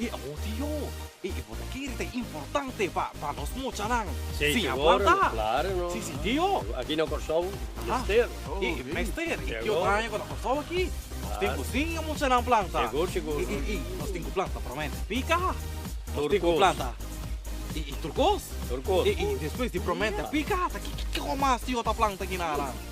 E audio e e bo ta kere ta importante pa pa nos mochanan sin a planta. Si si tio. Aki na Kòrsou mester. E e mester e tio Tanya ku ta Kòrsou aki nos tin ku sin e mochanan planta. E e e nos tin ku planta promènt pika. Nos tin ku planta e e tur kos. E e despues di promènt pika ata kiko mas tio ta planta aki naran.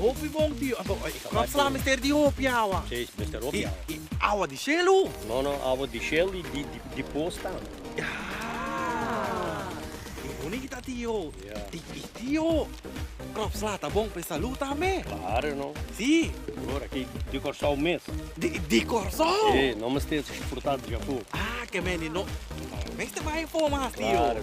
Hopi bon tio. Nan fla mester di hopi awa. Si, mester hopi awa. I awa di shelu? No, no, awa di shel i di pos tambe. Yaa. E bonita tio. Ya. I tio, Krop Sla ta bon pa e salú tambe? Klaro no. Si? Bror, aki di Kòrsou mes. Di Kòrsou? Si, no mester disfrutá dja ku. Ah, ke mene no mester bai info mas tio. Klaro.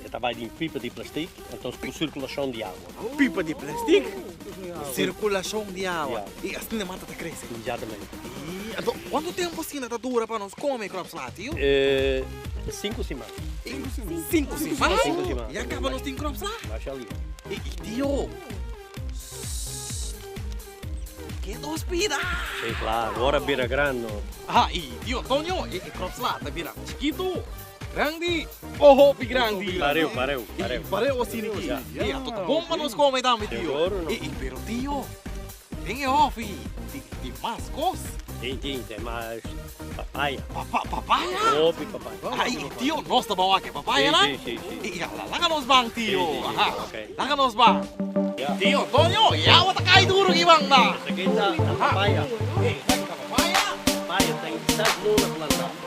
E ta bai den pipa di plastik, entos ku sirkulashon di awa. Pipa di plastik, sirkulashon di awa, i asin e mata ta krese. Ekzatamente. Anto, kuantu tempu asina ta dura pa nos kome kròp slati? Sinku siman. Sinku siman? Ya kaba nos tin kròp sla? Mashallah. E tio, ke dos pida? Si, klaru, ora bira grandi. Aha, i tio Antonio, e kròp sla ta bira chikitu? Grandi o hopi grandi? Pareu, pareu, pareu. Pareu o sini ki? Ei, ato ta bon pa nos kome tambe, tio. Ei, pero tio, den e hòfi tin mas kos. Tin, tin, te mas papaya. Papa, papaya? Hopi papaya. Ai, tio, nos ta ban wak papaya nan? Si, si, si. Ya, laga nos ban, tio. Si, si, si, ok. Laga nos ban. Tio Antonio, e awa ta kai duru aki banda. Esaki ta papaya. Esaki ta papaya? Papaya ta in sat luna planta.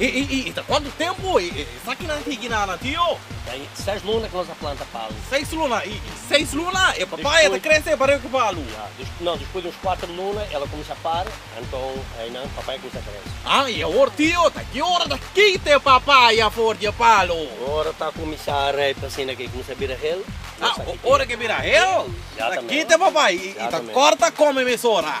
E e e ta cuanto tempo e e esakinan higi na na tio? Ta e seis luna cu nos a planta palu. Seis luna y y seis luna e papaya ta crece pareho cu palu? Ya, desp no, despues di nos cuater luna el a cuminsa para, anton aynan papaya cuminsa crece. Ha, y awor tio, ta ki ora ta kita e papaya for di e palu? Ora ta cuminsa rijp asina cu e cuminsa bira hel, nos a Ha, ora cu e bira hel, ta kita e papaya y y ta corta come mesora.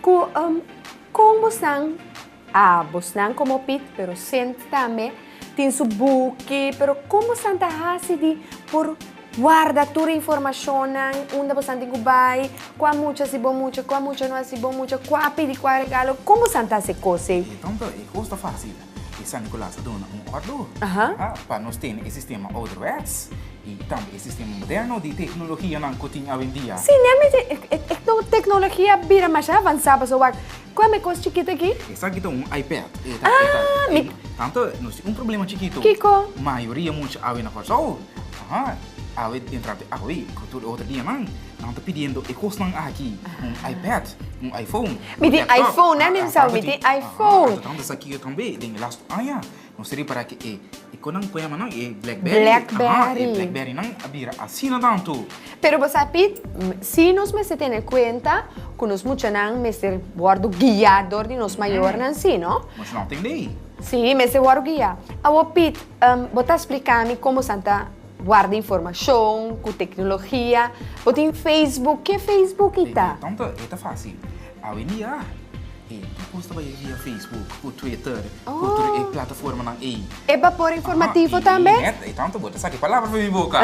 Cu um con bosnan? Ah, bosnan como Piet, pero Sint tambe, tin su buki, pero con bosnan ta haci di por warda tur informacionnan, unda bosnan tin cu bay, cua mucha haci bo mucha, cua mucha no haci bo mucha, cua pidi cua regalo, con bosnan ta haci cos ey? Tanto e cos ta facil? E San Nicolas a duna un ordo pa nos tene e sistema ouderwets i tambe e sistema moderno di teknologianan ku tin awendia. Sí, nan mester e teknologia a bira masha avansá pasobra wak, ku ame kos chikit aki? Esaki ta un iPad. E ta, e ta, e ta. Tantu nos tin un problema chikitu. Kiko? Mayoria mucha awe na Kòrsou, awe entra te awe ku tur e otro dianan. Nan ta pidiendo e kosnan aki, un iPad, un iPhone, un laptop, a a tanta tin, a a tanta sa kira tambe den e lastu aña. Nos ta repará ku e e ku nan ku yama nan e Blackberry, aha, e Blackberrynan a bira asina tantu. Pero bo sa Piet, si nos mester tene kuenta ku nos muchanan mester wòrdu guia dor di nos mayornan, si no? Nos no a tende ei. Si, mester wòrdu guia. Awor Piet, bo ta splika mi kon bo san ta. Warda informashon ku teknologia. Bo tin Facebook. Ke Facebook i ta? Tonto, e ta fásil. Awendia, e tur kos ta bai via Facebook ku Twitter ku tur e plataformanan ei. E bapor informativo tambe? Aha, i nèt tonto bo ta saka e palabra for mi boka.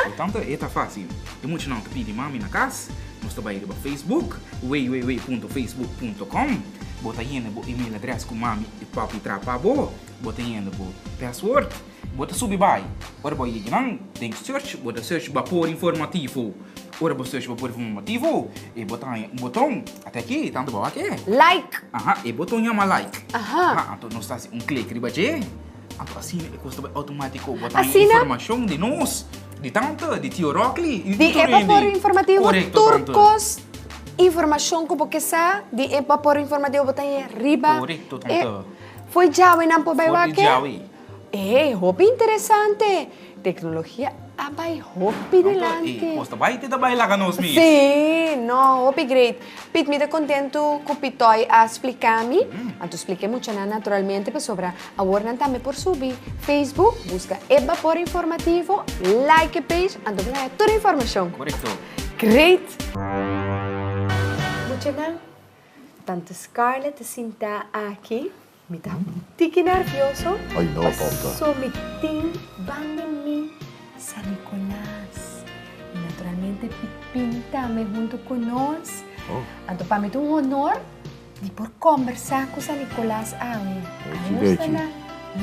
Por tanto, e ta fásil. E mucha nan ta pidi mami na kas. Nos ta bai riba Facebook, www.facebook.com. Bo ta hende bo email address ku mami i papi traha pa bo. Bo ta hende bo password. Bo ta subi bai. Ora bo yega nan den search, bo ta search Bapor Informativo. Ora bo search Bapor Informativo, e bo ta haña un boton. Ata aki, tantu bou aki e. Like. Aha, e boton yama like. Aha. Aha, anto nos ta hasi un klik riba dje. Anto asina e kos ta bai outomatiko. Bo ta haña informashon di nos, di tanta, di Tio Rokli, di tur hende. Di e Bapor Informativo. Korekto, tante. Tur kos, informashon ku bo ke sa di e Bapor Informativo bo ta haña riba. Korekto, tante. E foi djawenan por bai wak e. For di djawe. Ey, hopi interesante! Tecnologia a bay hopi delante. Ey, cos ta bay te ta bay laga nos mi. Sí, no, hopi great. Pit, mi ta contento cu Pitoy a splica mi. Anto splica e muchanan naturalmente pasobra awor nan tambe por subi. Facebook, busca E Bapor Informativo, like e page, anto bo ta haya tur e informacion. Correcto. Great! Muchanan, tanto Scarlett ta sinta aki. Mi ta tiki nervioso paso mi tin ban di mi San Nicolas. I naturalmente e pinta mi huntu ku nos. Anto pa mi ta un honor di por kombersá ku San Nicolas awe. Ajusta na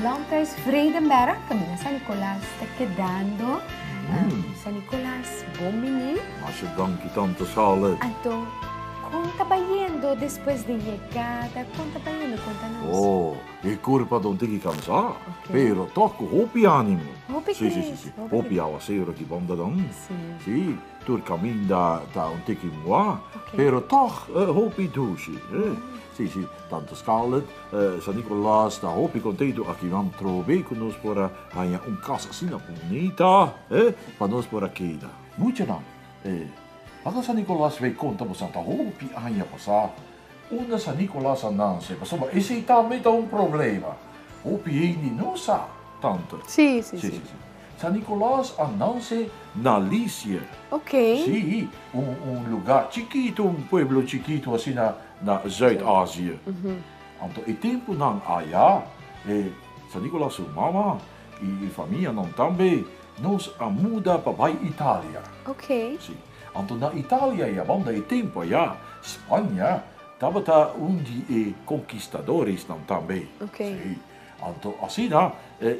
Landhuis Vredenbergh kaminda San Nicolas ta kedando. San Nicolas, bon bini. Anto. Kon ta bayendo despues di yegada? Kon ta bayendo? Konta nos. Oh, e kurpa don tiki kansá, pero tòg ku hopi ánimo. Hopi kris. Sí, sí, sí, sí. Hopi awasero ki bòmda dan. Sí. Sí, tur kaminda ta un tiki muá, pero tòg hopi dushi. Sí, sí, tantu Scarlett, San Nicolas ta hopi kontentu aki nan trobe ku nos por a haña un kas asina bunita pa nos por a keda. Mucha nan. E Anda San Nicolas Bai Conta Bo Santa Hopi Aña Pasá Unda San Nicolas A Nase Pasobra Esei Tambe Ta Un Problema Hopi Hende No Sa Tanter Sí sí sí sí sí San Nicolas A Nase Na Lisie Ok Sí Un Un Luga Chikito Un Pueblo Chikito Asina Na Zuid Asie Anto E Tempunan Aya E San Nicolas Su Mama Y e famianon tambe, nos a muda pa bay Italia. Ok. Si. Anto na Italia ya banda e tempo aya, Spanja tabata un di e conkistadoresnan tambe. Ok. Si. Anto asina,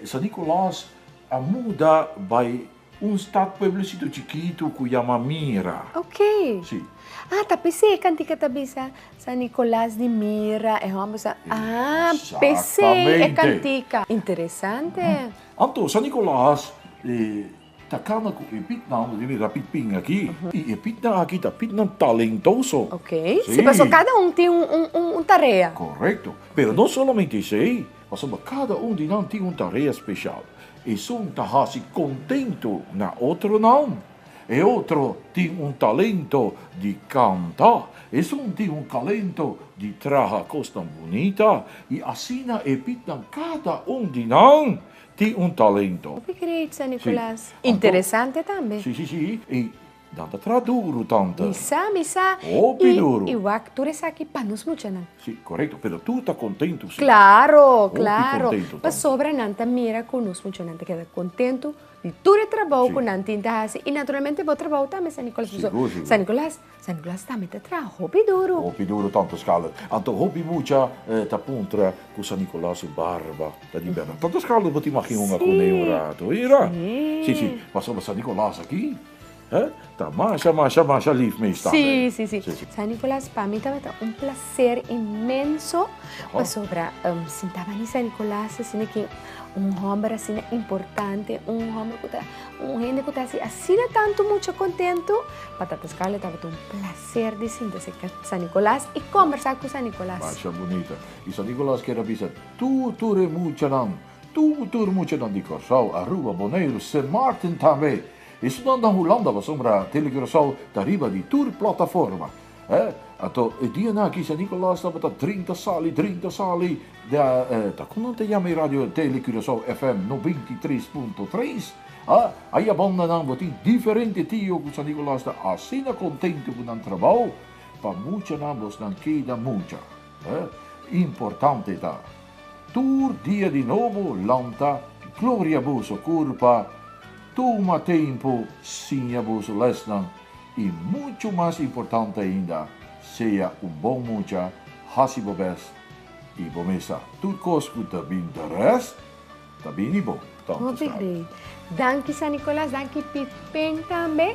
San Nicolaas a muda bay. Un stad pueblecito chikitu ku yama Mira. Oké. Sí. Ah, ta p'esei e kantika ta bisa San Nicolas di Mira, e hòmber sa. Ah, p'esei e kantika. Interesante. Anto, San Nicolas ta kana ku e pitnan, bo tin bira pit pin aki, i e pitnan aki ta pitnan talentoso. Oké. Sí, pasobra kada un tin un tarea. Korekto. Pero no solamente esei. Pasobra kada un di nan tin un tarea speshal. Esun ta hasi kontentu na otronan. E otro tin un talento di kanta. Esun tin un kalento di traha kosnan bunita. I asina e pitnan kada un di nan tin un talento. Hopi great, San Nicolas. Interesante tambe. Sí, sí, sí. E Dan ta traha duru, tante. Mi sa, mi sa. Hopi duru. I, i wak tur esaki pa nos muchanan. Si, korekto. Pero tur ta kontentu, si. Klaro, klaro. Hopi kontentu, tante. Pasobra nan ta mira ku nos muchanan ta keda kontentu di tur e trabou. Si. Ku nan tin ta hasi. I naturalmente bo trabou tambe, San Nicolas. Pasobra. Sigur, sigur. San Nicolas, San Nicolas tambe ta traha hopi duru. Hopi duru, tante Scarlett. Anto hopi mucha e ta puntra ku San Nicolas su barba ta di bèrdad. Tante Scarlett bo ta imagina un akune un ratu, oye, ra? Si. Si, si. Pasobra San Nicolas aki. He ta masha, masha, masha lief meest tambe. Sí, sí, sí. Sí, sí. San Nicolas, pa mi tabata un placer inmenso Oho. pasobra em, sinta bani San Nicolas asina ki un homber asina importante, un homber ku ta un hende ku ta hasi asina tanto mucha contento. Pa Tata Scarlett tabata un placer di sinta si ka San Nicolas y conversa ku San Nicolas. Masha bunita. Y San Nicolas quiere bisa tur, tur e muchanan Tur tur muchanan di Kòrsou, Aruba, Boneiru, Sint Maarten tambe i estudan den Hulanda pasobra Telecuracao ta riba di tur plataforma. E ato e dianan aki San Nikòlas tabata drinta sali drinta sali de ta kon nan ta yama e radio Telecuracao FM noventa i tres punto tres. A ayabanda nan bo tin diferente tio ku San Nikòlas ta asina kontento ku nan trabou pa muchanan bosnan keda mucha. E importante ta, tur dia di nobo lanta gloria boso kurpa, tuma tempu siña boso lèsnan i muchu mas importante ainda, sea un bon mucha, hasi bo bèst i bo mesa tur kos ku ta bin deres ta bini bo. Tantu slabe. Danki San Nicolas, danki Pipen tambe.